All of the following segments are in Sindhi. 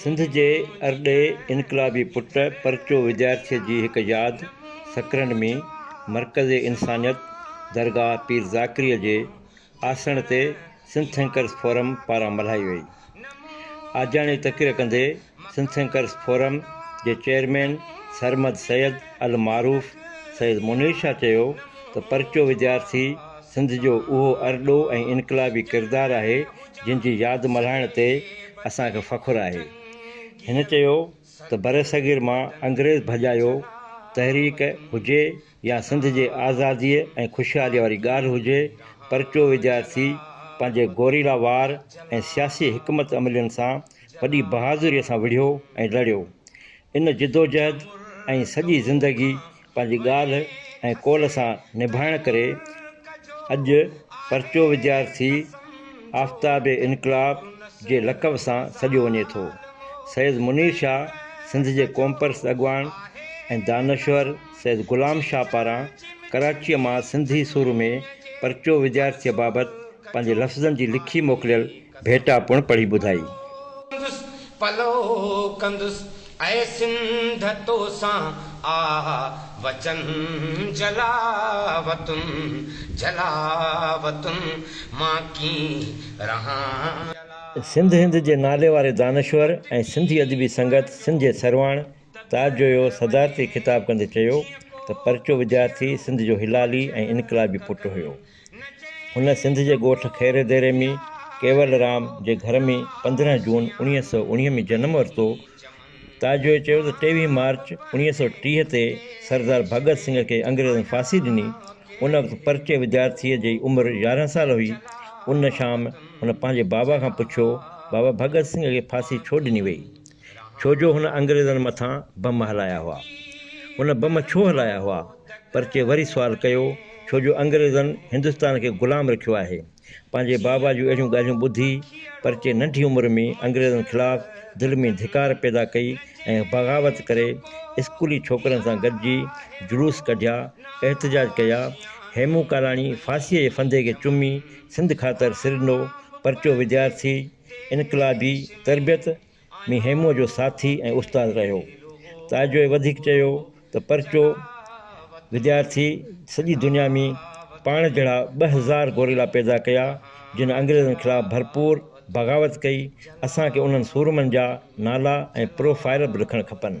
سنڌ جي ارڏي انقلابي پٽ پرچو وجايرڇ جي هڪ ياد سڪرنڊ ۾ مرڪز انسانيت درگاهه پير ذاڪري جي آسڻ تي سنڌٿنڪرس فورم پاران ملهائي وئي آجياڻي تقرير ڪندي سنڌٿنڪرس فورم جي چيئرمين سرمد سيد المعروف سيد منير شاهه چيو ته پرچو وجايرڇ سنڌ جو اهو ارڏو ۽ انقلابي ڪردار آهي جن جي ياد ملهائڻ تي اسان کي فخر آهي. هن چيو ته برصغير مان انگريز ڀڄايو تحريڪ هجي يا سنڌ جي آزاديء ۽ خوشحاليء واري ڳالهه هجي، پرچو وديارٿي پنهنجي گوريلا وار ۽ سياسي حڪمت عملين سان وڏي بهادريء سان وڙهيو ۽ لڙيو. ان جدوجهد ۽ سڄي زندگي پنهنجي ڳالهه ۽ قول سان نڀائڻ ڪري اڄ پرچو وديارٿي آفتاب انقلاب جي لقب سان سڏيو وڃي ٿو. سيد منير شاهه سنڌ جي قومپرست اڳواڻ ۽ دانشور سيد غلام شاهه پاران ڪراچيء مان سنڌي سر ۾ پرچو وديارٿيء بابت پنهنجي لفظن جي لکي موڪليل ڀيٽا پڻ پڙهي ٻڌائي. ڪندس پلو ڪندس، اي سنڌ تو سان آ وچن جلاوطن جلاوطن مان ڪين رهان. سنڌ هند جي ناليواري دانشور ۽ سنڌي ادبي سنگت سنڌ جي سرواڻ تاج جويو صدارتي خطاب ڪندي چيو ته پرچو وديارٿي سنڌ جو هلالي ۽ انقلابي پٽ هيو. هن سنڌ جي ڳوٺ خيري ديري ۾ ڪيول رام جي گهر ۾ پندرهن جون اڻيهه سؤ اڻيهه ۾ جنم ورتو. تاجوء چيو ته ٽيويهه مارچ اڻيهه سؤ ٽيهه تي سردار ڀڳت سنگهه کي انگريزن ڦاسي ڏني. ان وقت پرچي وديارٿيء جي عمر يارهن سال هئي. ان شام هن پنهنجي بابا کان پڇيو، بابا ڀڳت سنگهه کي ڦاسي ڇو ڏني وئي؟ ڇو جو هن انگريزن مٿان بم هلايا هئا. هن بم ڇو هلايا هئا؟ پرچي وري سوال ڪيو، ڇو جو انگريزن هندستان کي غلام رکيو آهي. پنهنجي بابا جون اهڙيون ڳالهيون ٻڌي پرچي ننڍي عمر ۾ انگريزن خلاف دل ۾ ڌڪار پيدا ڪئي ۽ بغاوت ڪري اسڪولي ڇوڪرن سان گڏجي جلوس ڪڍيا، احتجاج ڪيا. هيمون ڪالاڻي ڦاسيء جي ڦندي کي چمي سنڌ خاطر سرنڊو پرچو وديارٿي، انقلابي تربيت ۾ هيموء جو ساٿي ۽ استاد رهيو. تاجوء وڌيڪ چيو ته پرچو وديارٿي سڄي دنيا ۾ پاڻ جهڙا ٻه هزار گوريلا پيدا ڪيا، جن انگريزن خلاف ڀرپور بغاوت ڪئي، اسان کي انهن سورمن جا نالا ۽ پروفائيل به لکڻ کپن.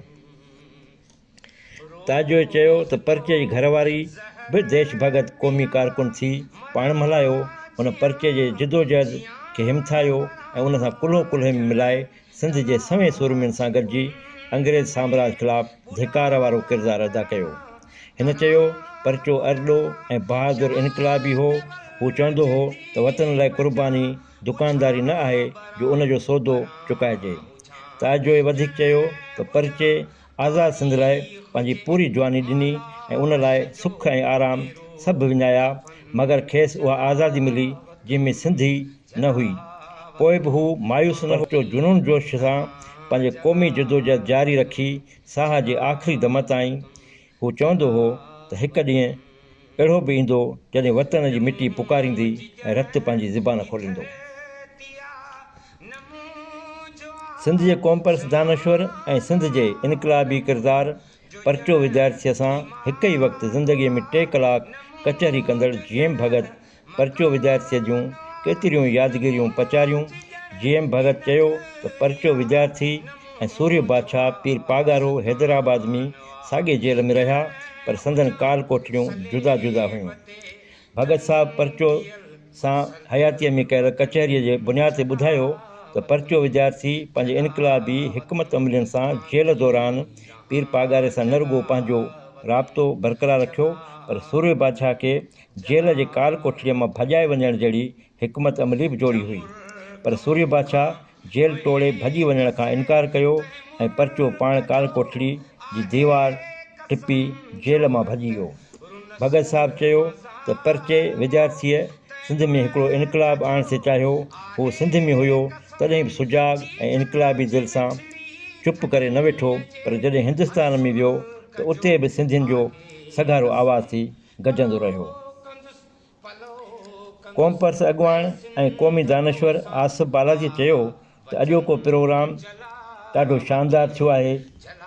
تاجوء چيو ته پرچي جي گهر واري به ديش ڀڳت قومي ڪارڪن ٿي پاڻ ملهايو، هن پرچي جي جدوجهد کي همٿايو ۽ ان سان ڪلهو ڪلهي ۾ ملائي سنڌ جي سوين سورمين سان گڏجي انگريز سامراج خلاف ڌڪار وارو ڪردار ادا ڪيو. هن چيو پرچو ارڏو ۽ بهادر انقلابي هو، هو چوندو هو ته وطن لاء قرباني دڪانداري نه آهي جو ان جو سودو چڪائجي. تاجوء وڌيڪ چيو ته پرچي. آزاد سنڌ لاء پنهنجي پوري جواني ڏني ۽ ان لاء سک ۽ آرام سڀ وڃايا مگر کيس اها آزادي ملي جنهن ۾ سنڌ ئي نه هئي پوء به هو مايوس نه ٿيو جنون جوش سان پنهنجي قومي جدوجهد جاري رکي ساهه جي آخري دم تائين هو چوندو هو ته هڪ ڏينهن اهڙو به ايندو جڏهن وطن جي مٽي پڪاريندي ۽ رت پنهنجي زبان کوليندو. سنڌ جي قومپرست دانشور ۽ سنڌ جي انقلابي ڪردار پرچو وديارٿيء سان هڪ ئي وقت زندگيء ۾ ٽي ڪلاڪ ڪچهري ڪندڙ جي ايم ڀڳت پرچو وديارٿيء جون ڪيتريون يادگيريون پچاريون. جي ايم ڀڳت چيو ته پرچو وديارٿي ۽ سورهيه بادشاهه پير پاڳارو حيدرآباد ۾ ساڳي جيل ۾ رهيا پر سندن ڪال ڪوٺڙيون جدا جدا هيون. ڀڳت صاحب پرچو سان حياتيء ۾ ڪيل ڪچهريء جي بنياد تي ٻڌايو ته پرچو وڌيارٿي پنهنجي انقلابي حڪمت عملين سان جيل دوران پير پاڳاري سان نه رڳو پنهنجو رابطو برقرار رکيو پر سورهيه بادشاهه کي جيل جي ڪال ڪوٺڙيء مان ڀڄائي وڃڻ جهڙي حڪمت عملي به جوڙي هئي پر سورهيه بادشاهه جيل ٽوڙي ڀڄي وڃڻ کان انڪار ڪيو ۽ پرچو پاڻ ڪال ڪوٺڙي جي ديوار ٽپي جيل مان ڀڄي ويو ڀڳت صاحب چيو ته پرچي وديارٿيء سنڌ ۾ هڪڙو انقلاب آڻڻ سي چاهيو هو سنڌ ۾ هيو تڏهن به سجاڳ ۽ انقلابي دل سان چپ ڪري نه ويٺو پر جڏهن هندستان ۾ ويو ته اتي به سنڌين جو سگهارو آواز ٿي گجندو رهيو قوم پرست اڳواڻ ۽ قومي دانشور آصف بالاچي چيو ته اڄوڪو پروگرام ڏاڍو شاندار ٿيو آهي،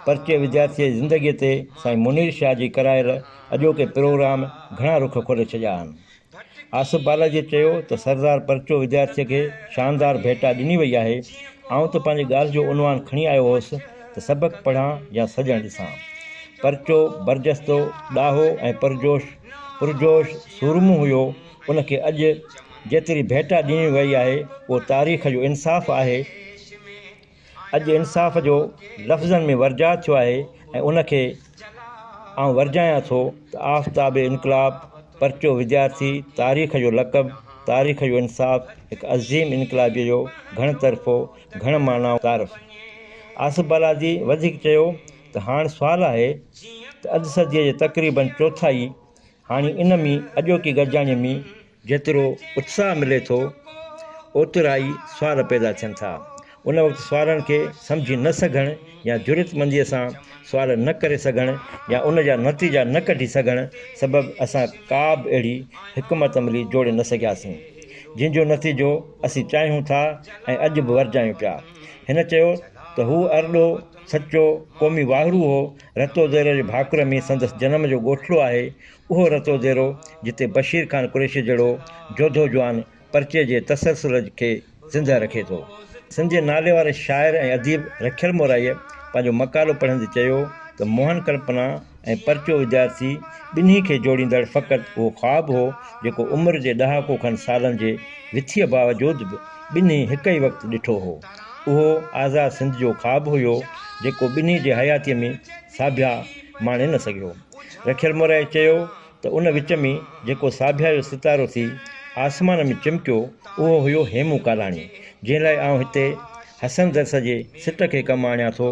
پرچي وديارٿيء جي زندگيء تي سائين منير شاهه جي ڪرايل اڄوڪي پروگرام گهڻا رخ کولي ڇڏيا آهن. آصف بالاچي چيو ته سردار پرچو وديارٿيء کي شاندار ڀيٽا ڏني وئي آهي، آئون ته پنهنجي ڳالهه جو عنوان کڻي آيو هوس ته سبق پڙهان يا سڄڻ ڏسان. پرچو برجستو، ڏاهو ۽ پرجوش پرجوش سورمو هيو، ان کي اڄ جيتري ڀيٽا ڏني وئي آهي، اهو تاريخ جو انصاف آهي. اڄ انصاف جو لفظن ۾ ورجاء ٿيو آهي ۽ ان کي آئون ورجايان ٿو ته آفتاب انقلاب، پرچو وديارٿي، تاريخ جو لقب، تاريخ جو انصاف، هڪ عظيم انقلابيء جو گهڻ طرفو، گهڻ معنائون تعارف. آصف بالادي وڌيڪ چيو ته هاڻ سوال آهي ته اڌ صديء جي تقريباً چوٿائي هاڻي ان ۾ اڄوڪي گڏجاڻيء ۾ جيترو اتساهه ملي ٿو، اوترائي سوال پيدا ٿين ٿا. ان وقت سوالن کي سمجهي نه سگهڻ يا جرئتمنديء سان سوال نه ڪري سگهڻ يا ان جا نتيجا نه ڪڍي سگهڻ سبب اسان ڪابه اهڙي حڪمت عملي جوڙي نه سگهياسين، جنهن جو نتيجو اسين چاهيون ٿا ۽ اڄ به ورجايون پيا. هن چيو ته هو ارڏو سچو قومي واهرو هو. رتو ديرو جي ڀاڪر ۾ سندس جنم جو ڳوٺڙو آهي. اهو رتو ديرو جتي بشير خان قريشي جهڙو جوڌو جوان پرچي جي تسلسل کي زندهه رکي ٿو. سنڌ جي نالي واري شاعر ۽ اديب رکيل مورائيء پنهنجو مقالو پڙهندي چيو ته موهن ڪلپنا، ۽ پرچو وديارٿي ٻنهي کي جوڙيندڙ فقط اهو خواب هو جيڪو عمر جي ڏهاڪو کن سالن جي وٿيء باوجود به ٻنهي هڪ ئي وقت ڏٺو هو. اهو آزاد سنڌ جو خواب هيو جيڪو ٻنهي جي حياتيء ۾ ساڀيا ماڻي نه سگهيو. رکيل مورائي چيو ته ان وچ ۾ جيڪو ساڀيا جو ستارو ٿي آسمان ۾ چمڪيو اهو هيو هيمون ڪالاڻي جنهن لاء آئون هتي حسن درس جي سٽ کي ڪم آڻيان ٿو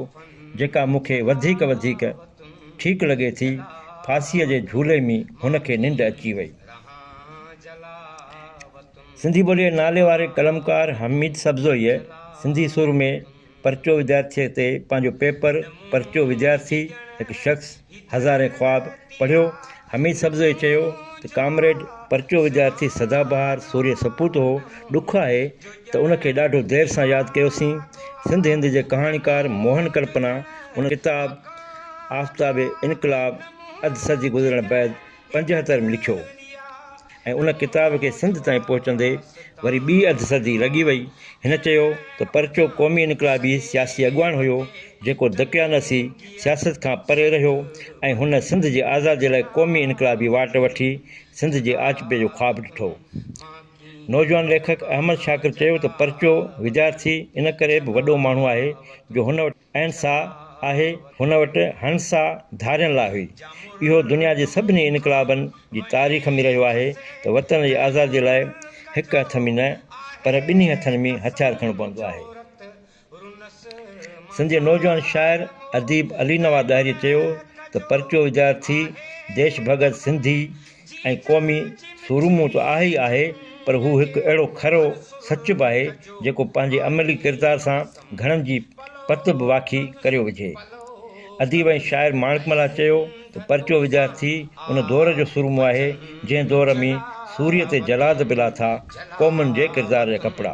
جيڪا مون کي وڌيڪ وڌيڪ ٺيڪ لڳي ٿي، ڦاسيء جي جهولي ۾ هن کي ننڊ اچي وئي. سنڌي ٻوليء جي ناليواري قلمڪار حميد سبزويء سنڌي سر ۾ پرچو وديارٿيء تي پنهنجو پيپر پرچو وديارٿي، هڪ شخص، هزارين خواب پڙهيو حميد سبزويء چيو ته ڪامريڊ پرچو وديارٿي سدا بهار سورهيه سپوت هو، ڏک آهي ته ان کي ڏاڍو دير سان ياد ڪيوسين. سنڌ هند جي ڪهاڻيڪار موهن ڪلپنا ان ڪتاب آفتاب انقلاب اڌ صدي گذرڻ بعد پنجهتر ۾ لکيو. ۽ ان ڪتاب کي سنڌ تائين پهچندي وري ٻي اڌ صدي لڳي وئي. هن چيو ته پرچو قومي انقلابي سياسي اڳواڻ هيو، جيڪو دقيانوسي سياست کان پري رهيو ۽ هن سنڌ جي آزادي لاء قومي انقلابي واٽ وٺي سنڌ جي آچپي جو خواب ڏٺو. نوجوان ليکڪ احمد شاڪر چيو ته پرچو وديارٿي ان ڪري به وڏو ماڻهو آهي جو هن وٽ. اين سا آهي هن وٽ هن سا ڌارين لاء هئي. اهو دنيا جي سڀني انقلابن جي تاريخ ۾ رهيو آهي ته وطن جي آزادي لاء هڪ هٿ ۾ نه پر ٻنهي هٿن ۾ هٿيار کڻڻو پوندو آهي. سنڌ جي نوجوان شاعر اديب علي نواز ڏاهري چيو ته پرچو وديارٿي ديش ڀڳت سنڌي، ۽ قومي سورمو ته آهي ئي آهي پر هو هڪ اهڙو کرو سچ به آهي جيڪو پنهنجي عملي ڪردار سان گهڻن جي پت به واکي ڪريو وجهي. اديب ۽ شاعر ماڻڪ ملاح چيو ته پرچو وديارٿي ان دور جو سورمو آهي جنهن دور ۾ سوريء تي جلاد به لاٿا قومن جي ڪردار جا ڪپڙا.